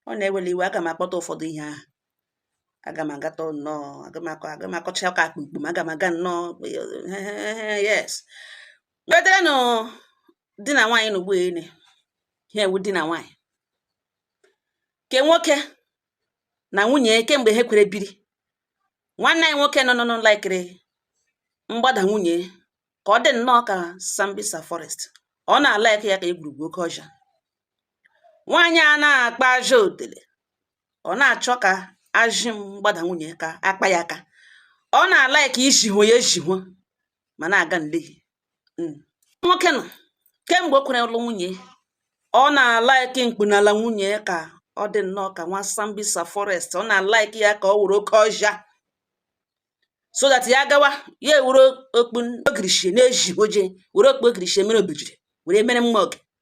ọ na-ewere iwe aga m akpọta ụfọdụ ihe ahụ aga m agata nnọọ aga m akọ aga m akọcha ụka akpa ikpum aga m aga nnọọ yes weterenụ di na nwaanyị n'ugbu ene ha ewu di na nwaanyị ke nwoke na nwunye kemgbe ha kwere biri nwanne anyị nwoke nọ nọ laikiri mgbada nwunye ka ọ dị nnọọ ka sambisa forest ọ na-alaịkị ya ka egwurugwu oke ọhịa nwaanyị a na-akpa ajị otele ọ na-achọ ka ajị mgbada nwunye ka akpa ya aka ọ na-alaịkị ijihụ ya ejihụ ma na-aga nlehi hmm. nwoke nọ kemgbe o kwere lụ nwunye ọ na-alaịkị mkpunala nwunye ka ọ dị nnọọ ka nwa sambisa forest ọ na-alaịkị ya ka ọ wụrụ oke ọhịa so that ya gawa ya ewere okpu ogirishie na-eji oje were okpu ogirishie mere obejiri were mere mma ọge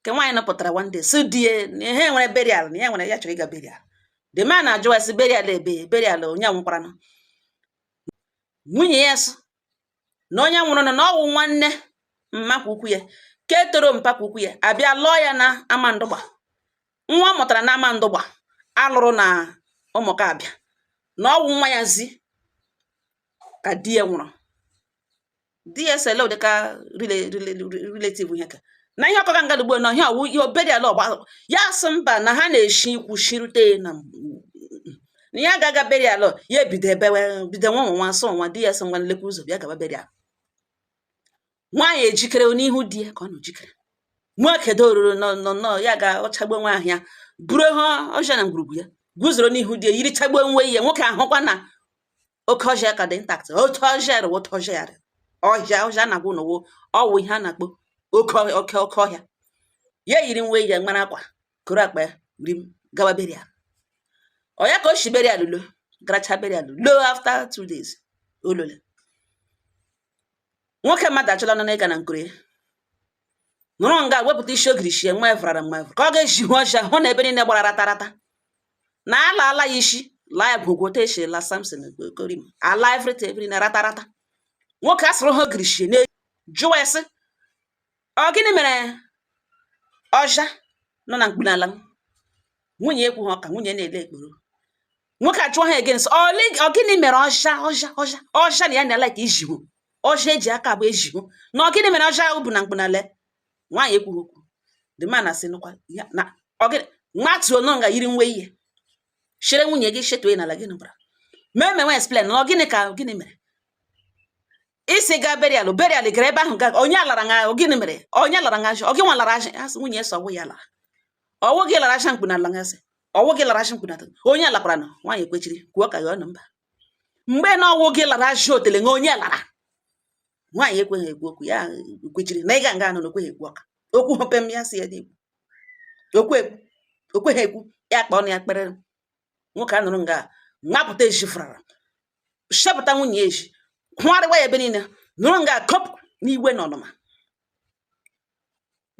nke nwaanyị nọpụtara one day sị di ya na ihe nwere burial na ya nwere ya chọrọ ịga burial the man na-ajụ ya sị burial ebe burial onye nwụkwaranụ nwunye ya sị na onye nwụrụ na ọ wụ nwanne mma ke ukwu ya ke tọrọ mpa ke ukwu ya a bịa lụọ ya na amandụgba nwa ọ mụtara na amandụgba a lụrụ na ụmụaka abịa na ọ wụ nwa ya zi ka di ya nwụrụ di ya sị dịka relative ihe ka na ihe ọ kọga nga ugbu na ihe ọ wụ ihe burial ọgba ya sị mba na ha na-eshi ikwu shirute na na ya ga-aga burial ya ebido ebewe bido nwa nwa asọ nwa di ya sị ngwa lekwa ụzọ bịa gaba burial nwaanyị ejikere n'ihu di ya ka ọ nọ jikere nwoke doruru nọ nọ nọ ya ga ọchagbo nwa ahụ ya buru ha ọhịa na ngwurugwu ya guzoro n'ihu di ya yirichagbo nwe ya nwoke ahụkwa na oke ọhịa ka dị intact otu ọhịa rịwa otu ọhịa rịwa ọhịa ọhịa na-agwụ n'ụwa ọ wụ ihe a na-akpọ oke ọhịa oke oke ọhịa ya yiri nwe ya mara akwa koro akpa ya wuri m gawa burial ọ ya ka o si burial lọ garacha burial lọ after two days olole nwoke mmadụ achọla na ịga na nkoro ya nọrọ nga wepụta isi ogirishie nwa evrara nwa evra ka ọ ga-ejihụ ọhịa hụ na ebe niile gbara ratarata na a laala ya isi laa ya gwogwo otu e si laa samson korim ala everything ebe niile ratarata nwoke asụrụ ha ogirishie na jụwa ya sị Ọ gịnị mere ọhịa nọ na mkpunala m? Nwunye ekwuha ụka, nwunye na-ele ekporo. Nwoke ajụọ ha again sị, "Ọ gịnị mere ọhịa na ya na like ijihu ọhịa eji aka abụọ ejihu na ọ gịnị mere ọhịa bụ na mkpunala ya?" Nwaanyị ekwughị okwu. The man asị nụkwa ya na ọ gịnị nwatuo nọ nga yiri nwe ya chere nwunye gị chetue n'ala gịnị gwara ma emenwe explain na ọ gịnị ka gịnị mere isi ga burial burial gara ebe ahụ ga onye alara nga gịnị mere onye lara nga ọ gị nwa lara asị asị nwunye sị ọ wụ ya lara ọ wụ gị lara ajị mkpu na ala nga sị ọ wụ gị lara ajị mkpu na ala onye lakwara na nwaanyị ekwechiri kwuo ka ya ọnụ mba mgbe na ọ wụ gị lara ajị otele nga onye lara nwaanyị ekweghị ekwu okwu ya kwechiri na ịga nga anọ na o kweghị ekwu ọka okwu hopem ya sị ya dị ekwu o kweghị ekwu ya kpa ọnụ ya kpere nwoke a nọrọ nga wapụta ezi fụrara shepụta nwunye ezi kụgharịwa ya ebe niile nọrọ nga kọpụ n'iwe na ọnụma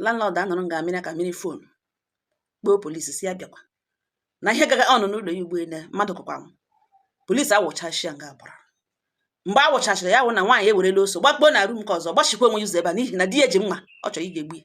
landlord anọrọ nga amịrị ka mmiri fon kpọọ polisi sị ya bịakwa na ihe gaga ọnụ n'ụlọ ya ugbu a le mmadụ kọkwa m polisi awụchachia nga gbara mgbe a wụchachara ya wụ na nwaanyị ewerela ọsọ gbakpuo na rum nke ọzọ gbachikwa onwe ya ụzọ ebe a n'ihi na di ya ji mma ọ chọrọ ị ga-egbu ya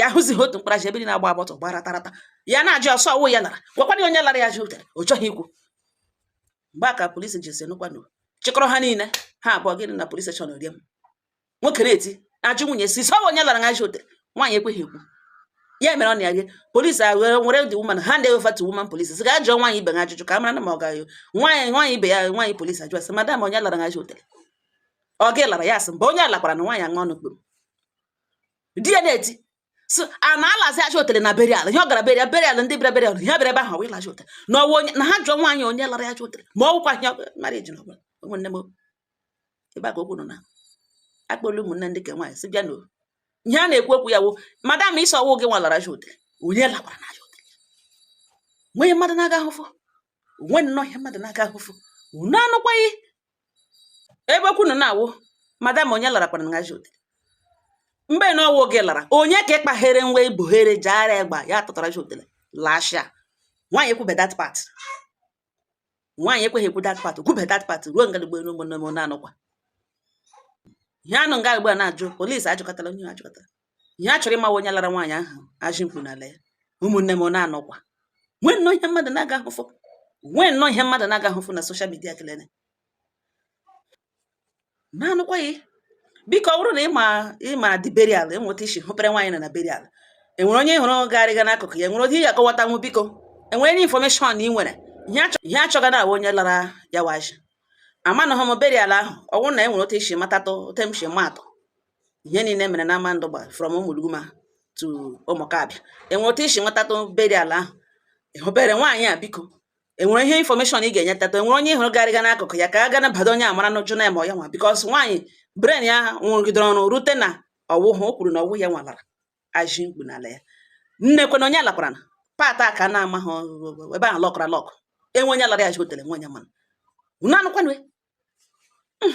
ya hụzighị otu mkpara ji ebe dị na-agba agba ọtọ gbara tarata ya na-ajụ ọsọ ọ wụ ya lara gwakwana onye lara ya ajị otele ọ chọghị ikwu mgbe a ka polisi ji senụkwanụ chịkọrọ ha niile ha abụọ gịnị na polisi steshọn rie m nwoke na-eti ajụ nwunye sị sọ onye lara ya ajị otele nwaanyị ekweghị ekwu ya mere ọ na ya gị polisi ewere were the woman hand over woman polisi sị ga jụọ nwaanyị ibe ha ajụjụ ka a mara na ma ọ gaghị nwaanyị nwaanyị ibe ya nwaanyị polisi ajụ sị madam onye lara gị ajị otele ọ gị lara ya asị mba onye lakwara na nwaanyị aṅụ ọnụ kpuru di ya na-eti so a na-alazi ajị otele na burial ihe ọ gara burial burial ndị bịara burial ihe bịara ebe ahụ wee la ajị otele na ọ wụ onye na ha jụọ nwaanyị onye lara ajị otele ma ọ wụkwa ihe marriage n'ọbụla ụmụnne m ebe a ka okwu nọ na akpọla ụmụnne ndị nke nwaanyị sị bịa na ihe a na-ekwu okwu ya wụ madam ị sị ọ wụ gị nwa lara ajị otele onye lakwara na ajị otele nweghị ihe mmadụ na-aga ahụfụ o nwe nnọọ ihe mmadụ na-aga ahụfụ unu anụkwaghị ebe okwu nọ na-awụ madam onye larakwara na ajị otele mgbe na ọ wụ gị lara onye ka ịkpaghere nwa ibuhere jaara egba ya tụtara ajị otele lashia nwaanyị ekwube that part nwaanyị ekweghị ekwu that part kwube that part ruo nga dịgbo elu ụmụnne m na-anụkwa ihe a nọ nga ugbu a na-ajụ polisi ajụkọtala onye ajụkọtala ihe a chọrọ ịmawa onye lara nwaanyị ahụ ajị mkpu n'ala ya ụmụnne m ọ na-anụkwa nwee nnọọ ihe mmadụ na-aga ahụfụ nwee nnọọ ihe mmadụ na-aga ahụfụ na soshal midia kelene na-anụkwa ya biko ọ bụrụ na ị ma ị ma the burial e nwere otu i si hụpere nwaanyị na na burial e nwere onye hụrụ garịga n'akụkụ ya nwere onye ya akọwatanwu biko e nwere ndị infọmeshọn ị nwere ihe a chọga na onye lara ya ajị amanụghị m burial ahụ ọ bụrụ na e nwere otu i si matatụ otu m si ma atụ ihe niile mere na Amandugba from Ụmụluguma to Ụmụkabịa enwere otu i si nwetatụ burial ahụ ịhụbere nwaanyị a biko enwere ihe infọmeshọn ị ga-enye tata enwere onye hụrụ garịga n'akụkụ ya ka a gana bado onye amara n'ụjọ na-eme ya nwa bikos nwaanyị bren ya na-arụgidere ọrụ rute na ọwụhụ o kwuru na ọwụ ya nwalara aji mkpu n'ala ya nne kwena onye alakwara na pata ka na-ama ha ebe ahụ lọkara lọk enwe onye lara ya ji otere nwe onye mana unu anụkwanụ hmm.